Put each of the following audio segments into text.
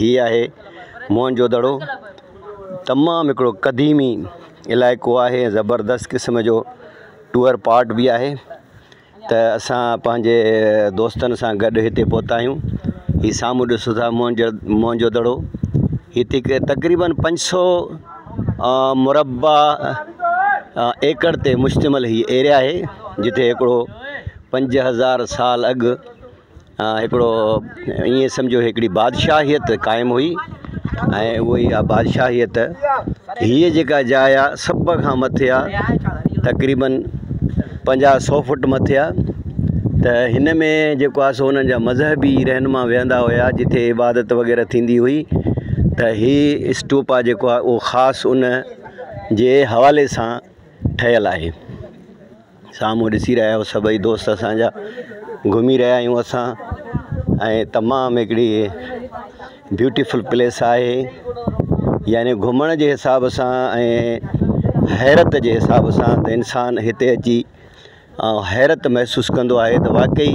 هي آهي موهن جو دڙو تمام هڪڙو قديمي علائقو آهي زبردست قسم جو ٽوئر پارٽ بي آهي ته اسان پنهنجي دوستن سان گڏ هتي پهتا آهيون هي سامهون ڏسو ٿا موهن جو موهن جو دڙو هتي ڪي تقريبن پنج سو مربع ايڪڙ تي مشتمل هي ايريا آهي جتي هڪڙو پنج هزار سال اڳ هڪڙو ائين سمجهو هڪڙي بادشاهيت قائم هئي ۽ اهو ئي آ بادشاهيت هيء جيڪا جاء آ سڀ کان مٿي آ تقريبن پنجاهه سو فٽ مٿي آ ته هن ۾ جيڪو آ سو هنن جا مذهبي رهنما ويهندا هيا جتي عبادت وغيره ٿيندي هئي ته هي اسٽوپا جيڪو آ اهو خاص ان جي حوالي سان ٺهيل آهي سامهون ڏسي رهيا آهيو سڀئي دوست اسان جا گهمي رهيا آهيون اسان ۽ تمام هڪڙي بيوٽيفل پليس آهي يعني گهمڻ جي حساب سان ۽ حيرت جي حساب سان انسان هتي اچي حيرت محسوس ڪندو آهي ته واقعي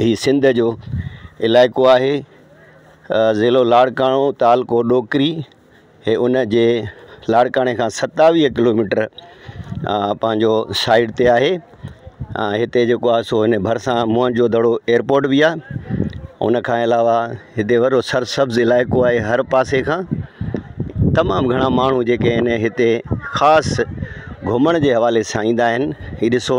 هي سنڌ جو علائقو آهي. ضلعو لاڙڪاڻو، تعلقو ڏوڪري. هي ان جي لاڙڪاڻي کان ستاويهه ڪلوميٽر پنهنجو سائيڊ تي آهي. هتي جيڪو آهي سو هن ڀرسان موهن جو دڙو ايئرپورٽ بي آهي. ان کان علاوه هتي وڏو سرسبز علائقو آهي هر پاسي کان. تمام گهڻا ماڻهو جيڪي آهن هتي خاص گهمڻ جي حوالي سان ايندا آهن. هي ڏسو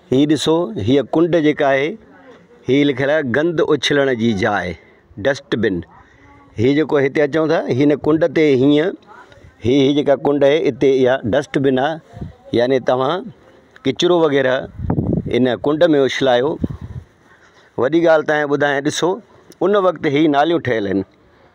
هي ڏسو هيء ڪنڊ جيڪا آهي هي لکيل آهي گند اڇلڻ جي جاء ڊسٽ بن هي جيڪو هتي اچو ٿا هن ڪنڊ تي هيئن هي هي جيڪا ڪنڊ آهي هتي اها ڊسٽ بن آهي يعني توهان ڪچرو وغيره ان ڪنڊ ۾ اڇلايو وڏي ڳالهه تانئين ٻڌايان ڏسو ان وقت هي ناليون ٺهيل آهن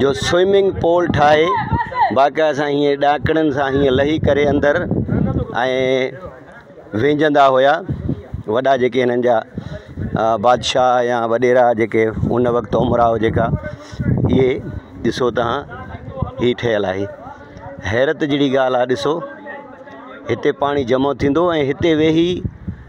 جو سوئمنگ پول ٺاهي باقاعده سان هيئن ڏاڪڻين سان هيئن لهي ڪري اندر ۽ وينجهندا هيا وڏا جيڪي هنن جا بادشاهه يا وڏيرا جيڪي هن وقت امراء جيڪا اهي ڏسو تها هي ٺهيل آهي حيرت جهڙي ڳالهه آهي ڏسو هتي پاڻي جمع ٿيندو ۽ هتي ويهي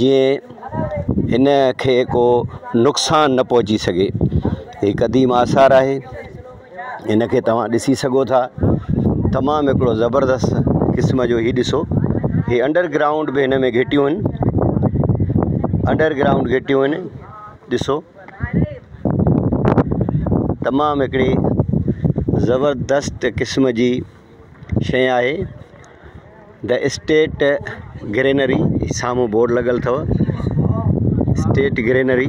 جيئن هن کي ڪو نقصان نه پهچي سگهي هي قديم آثار آهي هن کي توهان ڏسي سگهو ٿا تمام هڪڙو زبردست قسم جو هي ڏسو هي انڊر گرائونڊ به هن ۾ گهٽيون آهن انڊر گرائونڊ گهٽيون آهن ڏسو تمام هڪڙي زبردست قسم جي شيء آهي د اسٽيٽ گرينري سامهون بورڊ لڳل اٿو اسٽيٽ گرينري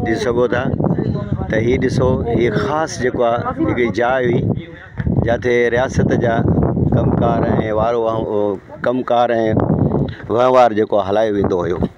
ڏسي سگهو ٿا ته هي ڏسو هي خاص جيڪو آ هڪڙي جاء هئي جتي رياست جا ڪم ڪار ۽ وارو ڪم ڪار ۽ وهنوار جيڪو هلايو ويندو هيو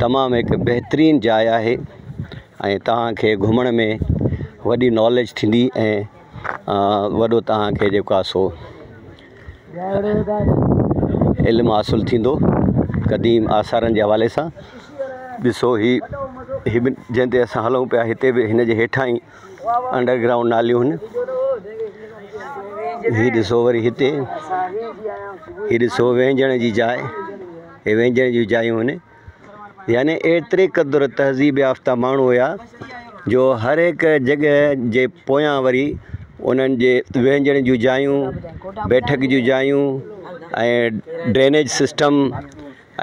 تمام هڪ بهترين جاء آهي ۽ تهان کي گهمڻ ۾ وڏي ناليج ٿيندي ۽ وڏو تهان کي جيڪو آهي سو علم حاصل ٿيندو قديم آثارن جي حوالي سان ڏسو هي هي بن جنهن تي اسان هلون پيا هتي به هن جي هيٺان ئي انڊرگرائونڊ ناليون هن هي ڏسو وري هتي هي ڏسو وهنجڻ جي جاء هي وينجهن جون جايون هن يعني ايتري قدر تهذيب يافته ماڻهو هيا جو هر هڪ جڳهه جي پويان وري انهن جي وينجهن جون جايون بيٺڪ جون جايون ۽ ڊرينيج سسٽم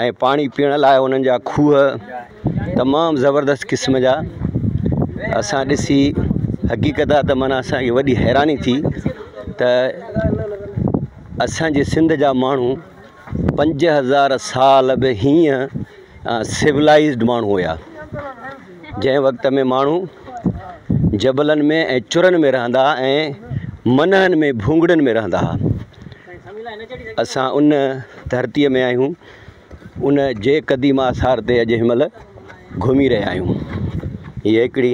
۽ پاڻي پيئڻ لاء انهن جا کوهه تمام زبردست قسم جا اسان ڏسي حقيقت آ ته معنيٰ اسانکي وڏي حيراني ٿي ته اسانجي سنڌ جا ماڻهو پنج هزار سال به هيئن سولائزڊ ماڻهو هيا جنهن وقت ۾ ماڻهو جبلن ۾ ۽ چرن ۾ رهندا هئا ۽ منهن ۾ ڀونگڙن ۾ رهندا هئا اسان ان ڌرتيء ۾ آهيون ان جي قديم آثار تي اڄ هن مهل گهمي رهيا آهيون هي هڪڙي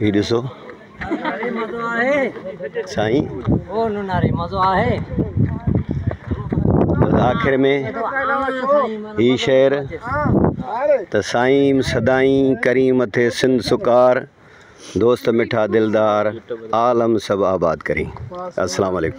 هي ڏسو سائين آخر ۾ هي شعر ته سائين سدائين ڪرين مٿي سنڌ سڪار دوست مٺا دلدار عالم سڀ آباد ڪرين السلام عليڪم